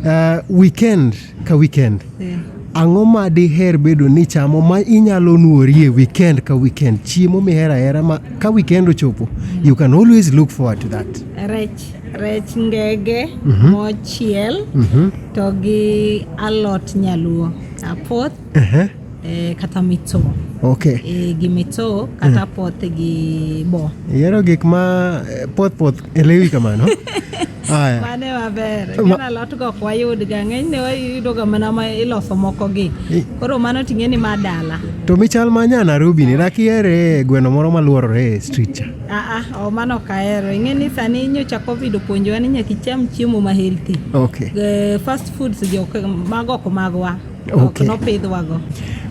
Uh, weekend ka weekend yeah. Ang'o ma diher bedo ni chamo ma inyalo nuorie weekend ka weekend chiemo mihero ahera ma ka weekend ochopo mm. you can always look forward to that rech rech ngege mm -hmm. mochiel mm -hmm. to gi alot nyaluo apoth uh-huh. eh, kata mitso okay. eh, gi mitso kata uh-huh. poth gi bo yero gik ma eh, poth poth elewi kamano Aya. Mane maber. Gin alot go ok wayud ga ng'eny ne wayudo ga mana ma iloso moko gi. Koro mano ting'e ni ma dala. To michal ma nya Nairobi ni nakiere gweno moro maluorore e street cha. Ah ah, o mano kaero. Ing'e ni sani nyocha Covid opuonjowa ni nyaka icham chiemo ma healthy. Okay. The eh, fast foods jo mago ok magwa. ok nopidhwago.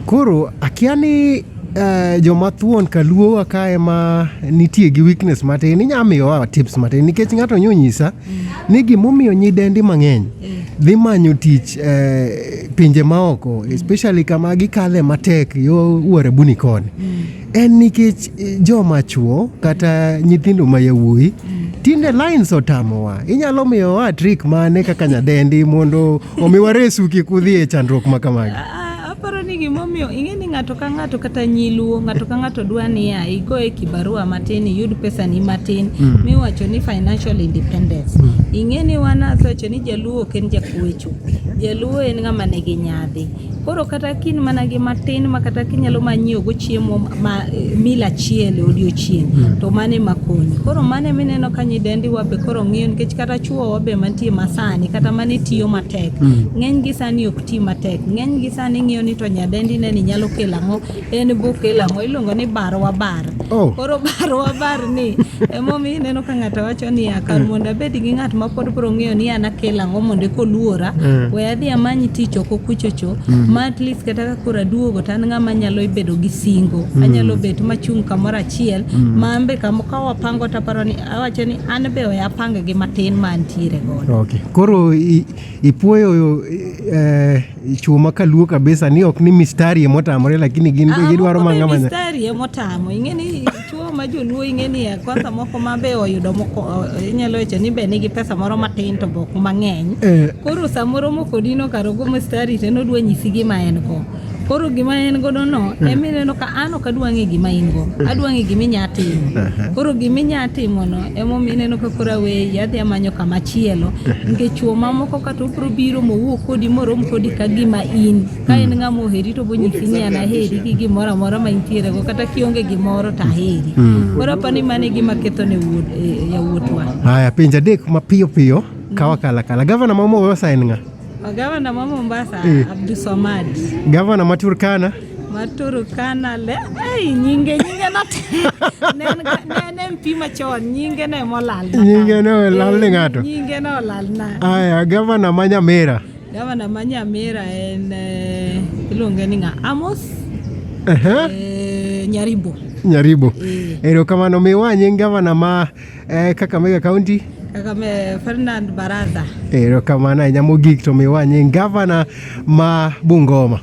Koro akia ni uh, joma thuon kaluowa ka ema nitie gi weakness matin inya miyowa tips matin nikech ng'ato nyonyisa mm. ni gimomiyo nyidendi mang'eny mm. dhi manyo tich uh, pinje maoko mm. especially kama gikale matek yo wuorebuni koni mm. En nikech eh, joma chwo kata nyithindo ma yawuoyi tinde lines otamowa. Inyalo miyowa trick mane kaka nyadendi mondo omiwa resu kik udhi e chandruok ma kamagi? Ah, aparo ni gimomiyo ing'e ni ng'ato ka ng'ato kata nyiluo ng'ato ka ng'ato dwa niya igo e kibarua matin iyud pesani matin mm. miwacho ni financial independence mm. ing'e ni wan asewacho ni jaluo ok en jakuecho jaluo en ng'ama nigi nyadhi Koro kata kin mana gi matin ma kata kinyalo ma nyiewo go chiemo ma eh, mil achiel e odiochieng' hmm. to mane ma konyi. Koro mane mineno ka nyidendi wabe koro ng'iyo nikech kata chuo wabe mantie masani kata mane tiyo matek. Hmm. Ng'eny gi sani ok ti matek. Ng'eny gi sani ng'iyo ni to nyadendi ne ni nyalo kelo ang'o en buk ilamo iluongo ni barwa bar oh. koro barwa bar ni emomiyo ineno ka ng'ato wacho niya kar mondo abed gi ng'at ma pod bro ng'eyo ni an akel ang'o mondo ekoluora mm. we adhi amany tich oko kuchocho mm. ma at least kata ka koro aduogo to an ng'ama nyalo bedo gi singo mm. anyalo bet machung' kamoro achiel mm. ma ambe ka wapango to aparo ni awacho ni an be we apang gi matin ma antiere godo okay. koro ipuoyo eh, Chuo ma kaluo kabisa ni ok ni mistari ema otamore lakini gin be gidwaro manga manya. Mistari ema otamo. Ing'e ni chuo ma joluo ing'e ni eh, kwanza moko ma be oyudo moko eh, inyalo wacho ni be nigi pesa moro matin to bok mang'eny. Eh. Koro samoro moko dino karo go mistari to nodwa nyisi gima en go. Koro gima en godo no hmm. ema ineno ka an ok adwa ng'e gima in go. Hmm. Adwa ng'e gima inya timo. Hmm. Koro gima inya timo no ema ineno ka koro aweyi adhi amanyo kama chielo. Nikech chuo mamoko to obiro biro mowuo kodi morom kodi ka gima in ka en ng'ama oheri to bonyisi ni an aheri gi gimoro amora ma intierego kata kionge gimoro to aheri hmm. koro apa ni mano e gima ketho ne e, yawuotwa haya pinje adek mapiyo piyo kawa kala kala gavana ma Mombasa en ng'a gavana ma Mombasa eh. Abdulswamad gavana ma Turkana Maturukana le ei nyinge nyinge not ne ne mpi machon nyinge ne molal nyinge ne olal ni ng'ato nyinge ne olal na aya gavana ma Nyamira gavana ma Nyamira en eh, iluonge ni ng'a Amos eh, Nyaribo Nyaribo eh. erokamano miwa nying gavana ma eh, Kakamega County Kagame Ferdinand Barasa. Erokamano ahinya mogik to miwa nying gavana ma Bungoma.